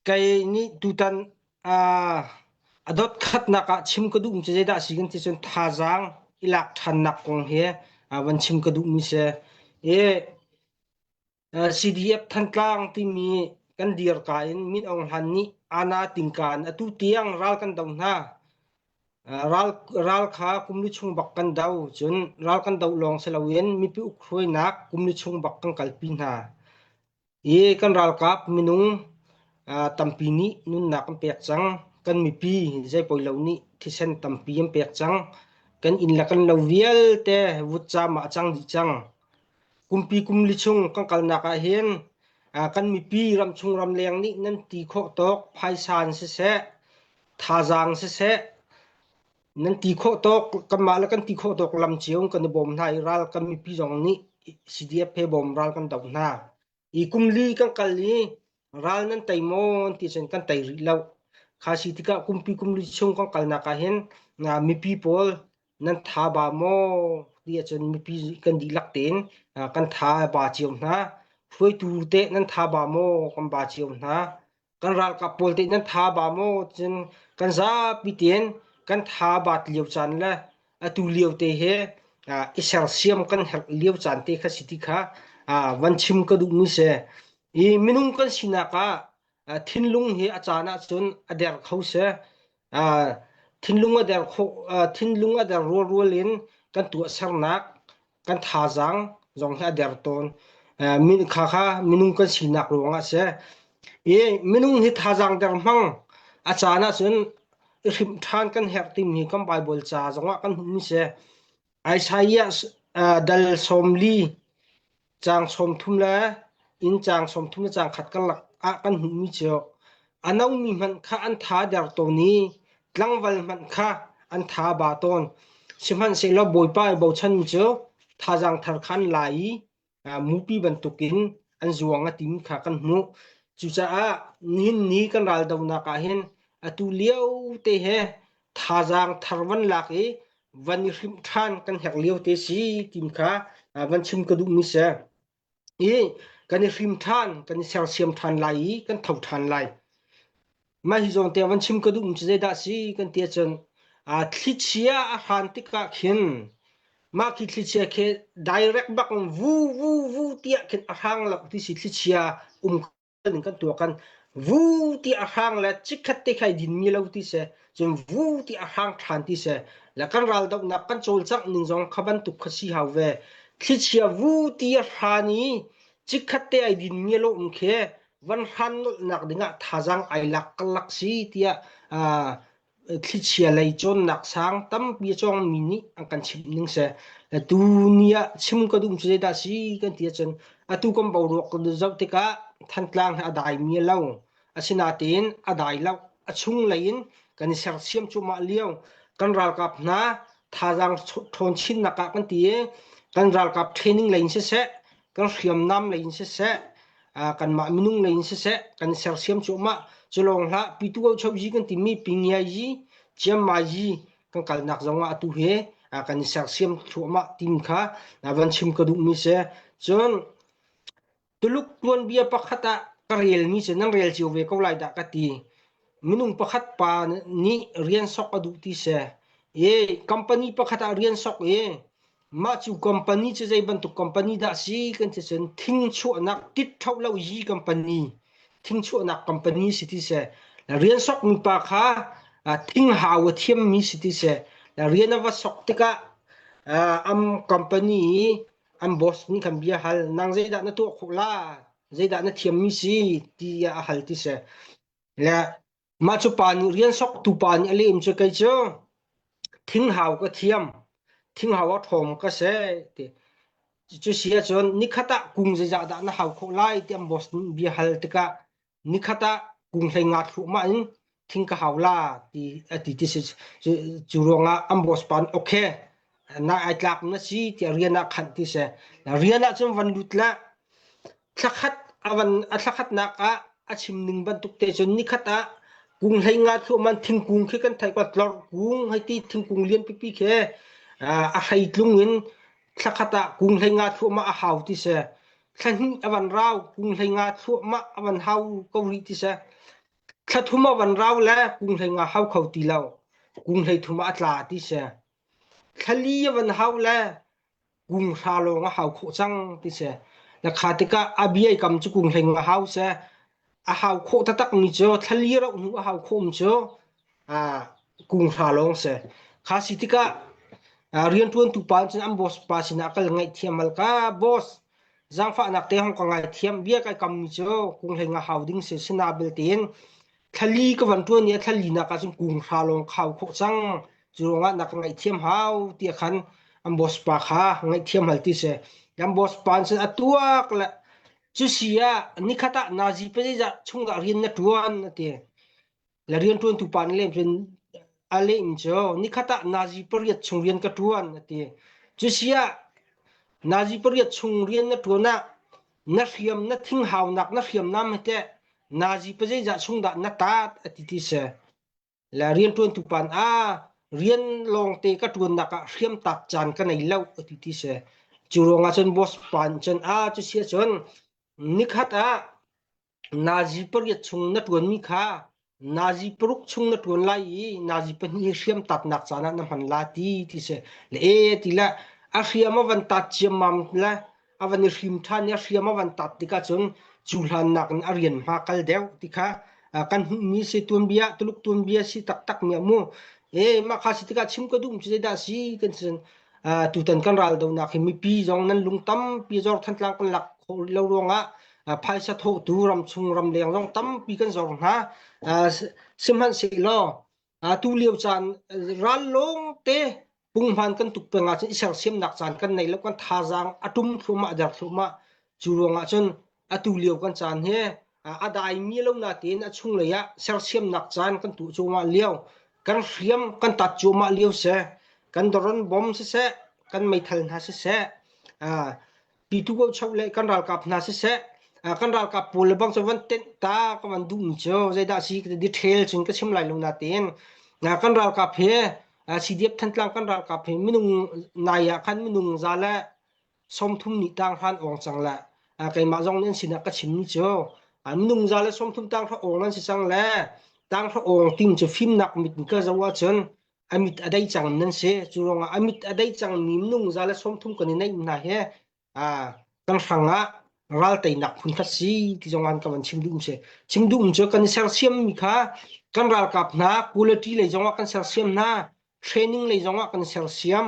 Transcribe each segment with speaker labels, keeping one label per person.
Speaker 1: kei nih tutan a dotkhatnak ah chim ka duhmi cu zeidah a si kan ti cun thazaang i lak ṭhannak kong hi van chim ka duhmi si. I CDF Thantlang timi kan dirka in Min Aung Hla'n nih Ana Tingka in atu tiang ral kan do hna. Ral, ral kha kum li chung bak kan do cun ral kan do lawng si loin mipi ukhuainak kum li chung bak kan kalpi hna. Hi kan ralkap minung tampi nih nunnak an pek cang. Kan mipi zeipoi lo nih thisen tampi an pek cang. Kan inn le kan lo vialte vutcaam ah a cang dih cang. Kumpi kumli chung kan kalnak ahhin kan mipi ramchung ramleng nih nan ti khawh tawk phaisa in siseh, thazaang siseh, nan ti khawh tawk kanmah le kan ti khawh tawk lam cio kan i bawm hna i ral kan mipi zong nih CDF he bawm ral kan do hna i kum li kan kal i ral nan tei maw ti cun kan tei rih lo kha si tikah kumpi kumli chung kan kalnak ah hin mipi pawl nan tha ba maw ti ahcun mipi kan dihlak tein kan tha ba cio hna hruaitu te nan tha ba maw kan ba cio hna kan ralkap pawl te nan tha ba maw cun kan zapi ten kan tha bat lio caan le atu lio te he i sersiam kan herh lio caan te kha si ti kha van chim ka duhmi si i minung kan sinak ah thinlung hi a caan ah cun a der kho si thinlung a der kho thinlung a der rualrual in kan tuahsernak kan thazaang zong hi a der tawn. Minung kan sinak ruangah a si. Minung hi thazaang der hmang a caan ahcun i hrim ṭhan kan herh timi kan Baibal ca zongah kan hmuhmi si. Isaiah dal sawmli caang sawmthum le inn caang sawmthum le caang khat karlak ah kan hmuhmi cu A nongmi hmanh kha an tha der tawn i tlangval hmanh kha an tha ba tawn. Sihmanhsehlaw Bawipa i bochanmi cu thazaang thar kha an la i mupi bantukin an zuang a tim kha kan hmuh. Cucaah nihin ni kan raldonak ah hin atu lio te he thazaang thar van lak i van i hrimh ṭhan kan herh lio te si timi kha van chim ka duhmi si. i kan i hrim ṭhan, kan i sersiam ṭhan lai i kan tho ṭhan lai. Mah hi zawn te van chim ka duhmi cu zeidah si kan ti ahcun uh, thlichia a hran tikah khin mah khi thlichia khi direct bak in vu vu vu tiah khin a hrang lo ti si thlichia um ning kan tuah kan vu ti a hrang le chikhat te khai din mi lo ti se cun vu ti a hrang than ti se le kan ral dok nak kan col chak ning zong kha bantuk kha si hau ve thlichia vu ti a hran i chikhat te ai din mi lo um khe van hran nol nak dingah thazang ai lak kalak si tia Thlichia lei cawnnak sang tampi a cawngmi nih an kan chimh ning seh, tu ni ah chim ka duh cu zeidah a si kan ti ahcun atu kan boruak kan zoh tikah Thantlang hi a daimi a lo. Asinain a dai lo. A chunglei in kan i sersiam cuahmah lio. Kan ralkap hna thazaang ṭhawn chinnak ah kan ti i kan ralkap training lei in siseh, kan hriamnam lei in siseh kanmah minung lei in siseh kan sersiam cuahmah culawng hlah pitu chozi kan timi pingiazi ciamazi kan kalnak zongah atu he kan i sersiam cuahmah tim kha van chim ka duhmi se cun tuluk tuanbia pakhat ah ka relmi se nan rel cio ve ko lai dah ka ti minung pakhat pa nih rian sok a duh ti se e company pakhat ah rian sok e Mah cu company cu zei bantuk company dah si kan ti cun thingchuahnak tiṭhlo lo yi company thingchuahnak company si ti seh la rian sok mi pa kha uh, thinghau a thiam mi si ti seh la rian a va sok tikah uh, am company i an boss nih khan bia hal nang zeidah na tuah khawh la zeidah na thiam mi si ti a hal ti seh la Mah cu pa nih rian sok tupa nih a lem cu kei cu thinghauk a thiam, thinghauk a ṭhawng ka seh ti. Cucu si ahcun nikhat ah kung zeizah dah na hau khawh lai ti an boss nih bia hal tikah nikhat ah kung hlei nga thluahmah in thing ka hau la ti a ti ti si. Cu ruangah an boss pa nih okay na ai tlak na si tiah rian ah khanh ti a si. Rian ahcun van lut la. thla khatnak ah a chim ning bantuk te cun nikhat ah kung hlei nga thluahman thingkung khi kan thai tlor kung hei ti thingkung lian pipi khi a hrei tlung in thla khat ah kung hlei nga thluahmah a hau ti se thla hnih a van rau kung hlei nga thluahmah a van hau ko rih ti se thla thum a van rau le kung hlei nga hau kho ti lo kung hlei thum a tla ti se thla li a van hau le kung hra lawng a hau khawh cang ti si. Na kha tikah a bia i kam cu kung hleng a hau se a hau khawh taktak mi cu thlali rauh hnu a hau khawh mi cu a kung hra lawng si. Kha si tikah rianṭuantu pa cun an boss pa sinah kal ngaihthiam al ka boss zaangfahnak te hong ka ngaithiam bia kai kam mi cu kung hleng a hau ding si si na belte in Thlali ka van ṭuan i a thlalinak ah cun kung hra lawng kha u khawh cang. Cu ruangah na ka ngaihthiam hau tiah khan an boss pa kha ngaihthiam hal ti si. An boss pa nih cun a tuak le cu si ah nikhat ah nazi pazeizah chung dah rian na ṭuan a ti. Le rianṭuantu pa nih lem cun a lem cu nikhat ah nazi pariat chung rian ka ṭuan a ti. Cu si ah nazi pariat chung rian na ṭuan ah na hriam na thinghaunak na hriamnam he teh nazi pa zeizah chung dah na taat ati ti si la riantuantu pan a rian lawngte ka tuannak ah hriam taat caan ka nei lo ati ti si cu ruangah cun boss pan cun a cu sia cun nikhat ah Nazi pariat chung na ṭuanmi kha Nazi paruk chung na ṭuan lai i Nazi pahnih hi hriam tatnak caan ah na hman la ti ti si. Le ee ti le a hriam a van tat ciammam le a van i hrim ṭhan i a hriam a van tat tikah cun cu hlannak in a rian hma kal deuh ti kha uh, kan hmuhmi si tuanbia Tuluk tuanbia si taktakmi a mu. E mah kha si tikah chim ka duhmi cu zeidah si kan si uh, tutan kan ral donak hi mipi zong nan lung tampi zor thantlang kan lak khawh rih lo ruangah phaisa thawhtu ramchung ramleng zong tampi kan zor hna sihmanhsehlaw tu lio caan ral lawng te punghman kan tuk peng ahcun i sersiamnak caan kan nei lo kan thazaang a tum thluahmah der thluahmah cu ruang ahcun atu lio kan caan hi a daimi lo na tein a chunglei ah sersiamnak caan kan tuah cuahmah lio kan hriam kan tat cuahmah lio seh kan doron bom siseh kan meithal hna siseh pitu ko chau le kan ralkap hna siseh kan ralkap pawl le bang cu van tenh ta ka van dum cu zeidah si ka ti ṭhel cun ka chim lai lo natin kan ralkap he CDF Thantlang kan ralkap he minung nai ah khan minung za le sawmthum nih tang hran ong cang le keimah zong nih an sinah ka chim cu minung za le sawmthum tang hra ong an si cang le tang hra ong ting cu fimnak mit ka zo ahcun a mit a dei cang nan si cu ruangah a mit a dei cangmi minung za le sawm thum kan i neih hna hi kan hrangah ral teinak phun khat si ti zong an kan van chim duhmi si chim duhmi cu kan i sersiammi kha kan ralkap hna quality lei zongah kan sersiam hna training lei zongah kan sersiam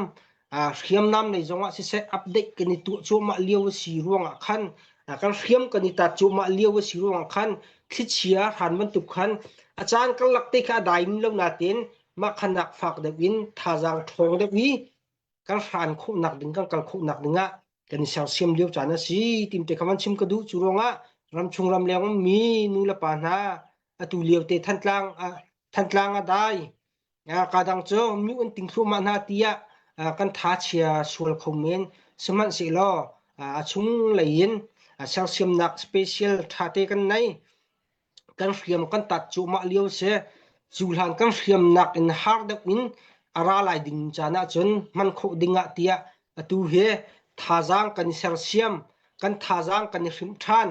Speaker 1: uh, hriamnam nei zongah siseh update kan i tuah cuahmah lio a si ruangah khan uh, kan hriam kan i tat cuahmah lio a si ruangah khan thlichia hran bantuk khan a caan karlak te kha a daim lo natin mah khanak fak deuh in thazaang ṭhawng deuh i kan hran khawh nak ding kan kal khawh nak dingah kan i sersiam lio caan a si tim te khaman chim ka duh cu ruangah ramchung ramleng mi nu le pa hna atu lio te thantlang uh, thantlang a dai kadang cu mi an ting thluahmah hna tiah kan thachia sual kho men sihmanhsehlaw a chunglei in sersiamnak special thate kan nei kan hriam kan tat cuahmah lio si cu hlan kan hriamnak in har deuh in a ra lai ding caan ahcun hman khawh ding ah tiah Atu hi thazaang kan i sersiam. Kan thazaang kan i hrim ṭhan.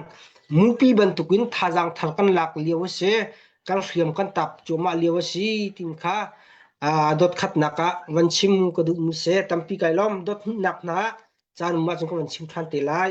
Speaker 1: Mupi bantukin thazaang thar kan lak lio a si. Kan hriam kan tap cuahmah lio a si timi kha aa dotkhatnak ah van chim ka duhmi si. Tampi kai lawm. Dot hnihnak hna ah caan um ahcun ka van chim ṭhan te lai.